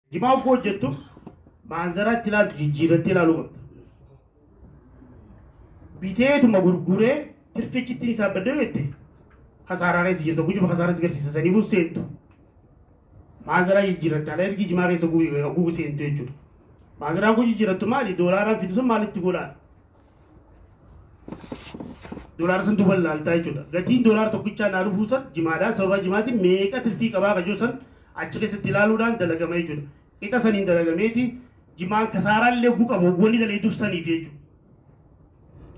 Jimaa uffuu hojjettu maanzaraa itti ilaaltu jijjiirrattee ilaaluu qabda. Biteetuma gurguree tirfichi ittiin isaa baddee jette kasaaraa keessa jirta gujufa kasaaraa si garsiisa saniifuu seentu. Maanzaraa jijjiirratta ala ergi jimaa keessa gugu seentu jechuudha. Maanzaraa guu jijjiirrattu maali doolaaraan fidu sun maalitti godhaan. Doolaara san duuba laaltaa jechuudha. Gatiin doolaara tokkichaa naa dhufuu san jimaadhaa sababa jimaatiin meeqa tirfii qabaa kajoo san achi keessatti ilaaluudhaan dalagama jechuudha. Qixa saniin dalagameeti jimaan kasaaraa illee oguu qabu wanni daleeduuf saniif jechuudha.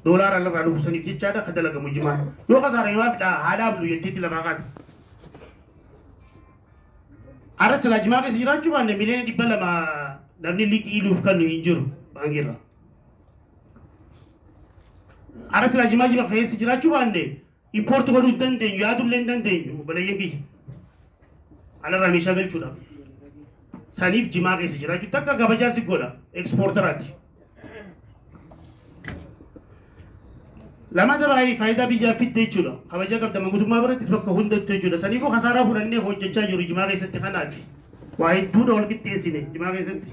Doolaara lafaa dhufu saniif jechaadha ka dalagamu jimaan. Yoo kasaara yoo haafidha haa dhaabnu jetteetti lafaa kaate. Arra silaa jimaa keessa jiraachuu baanne miliyoona dhibba lama namni liqii nuuf kennu hin jiru baankiirraa. Arat laa jimaa jimaa keessa jiraachuu baanne impoorti godhuu hin dandeenyu yaadullee hin dandeenyu obboleeyyan kiyya. Alarraa meeshaa galchuudhaaf. Saniif jimaa keessa jiraachuu takka kabajaa si godha ekspoortaraati. Lamata baay'ee faayidaa biyyaa fidde jechuudha. Kabajaa qabda mangutummaa birattis bakka hundattu jechuudha. Saniifuu kasaaraa fudhannee hojjechaa jiru jimaa keessatti kanaati. Waa hedduudha wal qixxeessine jimaa keessatti.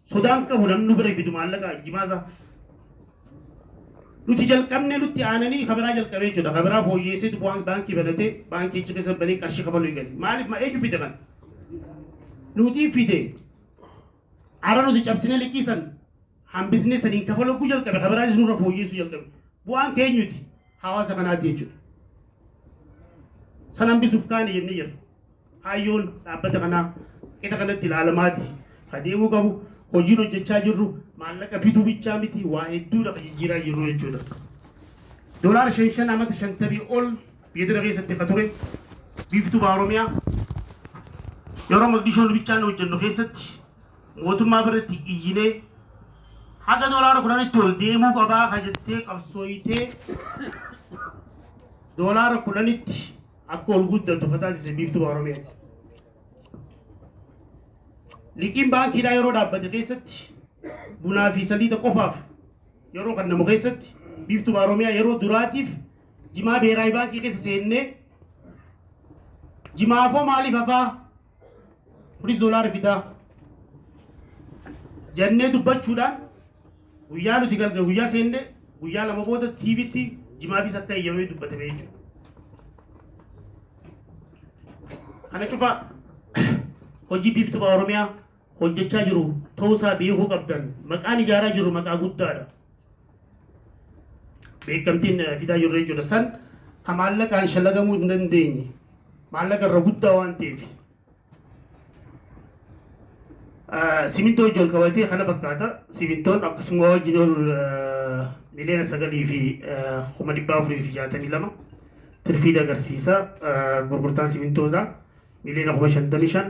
Sodaa hin qabu namni nu bira fidu maallaqa jimaa isaa. Nuti jalqabnee nutti aananii kabiraa jalqabee jechuudha. Kabiraa fooyyeesseetu bu'aan baankii banatee baankii achi keessa banee qarshii kafaluu eegale. Maaliif ma eenyu fide kan? Nuti fide. Ara nuti cabsinee liqiisan hambisnee saniin kafaluu guu jalqabe kabiraanis nurra fooyyeessuu jalqabe. Bu'aan keenyuti hawaasa kanaati jechuudha. San hambisuuf kaane jennee jirra. Kaayyoon dhaabbata kanaa qixa kanatti ilaalamaati ka deemuu qabu. Hojiin hojjechaa jirru maallaqa fiduu bichaa miti waa hedduudha ka jijjiiraa jirru jechuudha. Dolaara shan shan amata shantamii ol biyya tana keessatti ka ture biiftuu baa Oromiyaa yeroo Maqdishoon bichaan hojjennu keessatti mootummaa biratti iyyinee haga dolaara kudhanitti ol deemuu qabaa ka jettee qabsooytee dolaara kudhanitti akka ol guddatu ka taasise biiftuu baha Oromiyaati. Liqiin baankiidhaa yeroo dhaabbate keessatti bunaa fi saliixa qofaaf yeroo kennamu keessatti biiftuu baha Oromiyaa yeroo duraatiif jimaa beeraayi baankii keessa seennee jimaafoo maaliif hafaa Kunis doolaara fidaa jennee dubbachuudhaan guyyaa nuti galgala guyyaa seenne guyyaa lama booda TVtti jimaafis akka eeyyamee dubbatame jechuudha. Kana cufa hojii biiftuu Oromiyaa hojjechaa jiru ta'uu isaa beekuu qabdan. Maqaan ijaaraa jirru maqaa guddaadha. Beekamtiin eh, fidaa jirru jechuudha. San ka maallaqaan shalagamuu hin dandeenye. Maallaqa irra guddaa waan ta'eef. Eh, Simintoo wajjin wal qabatee kana fakkaata. Simintoon akkasuma wajjin ol eh, miliyoona sagalii fi eh, kuma dhibba afurii fi jaatamii lama tirfiida agarsiisa. Eh, Gurgurtaan simintoodha. Miliyoona kuma shantamii shan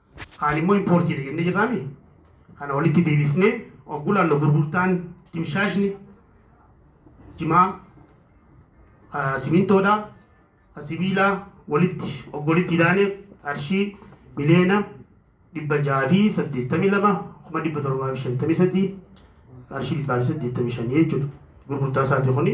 Kaan immoo importiidha jennee jirraami. Kana walitti deebisnee oggu laallu gurgurtaan dimshaashni jimaa ah, simintoodha ah, sibiilaa walitti oggu walitti idaanee qarshii miliyoona dhibba jaha fi saddeettamii lama kuma dhibba torbaa fi shantamii sadii qarshii dhibbaa fi saddeettamii shanii jechuudha. Gurgurtaa isaati kuni.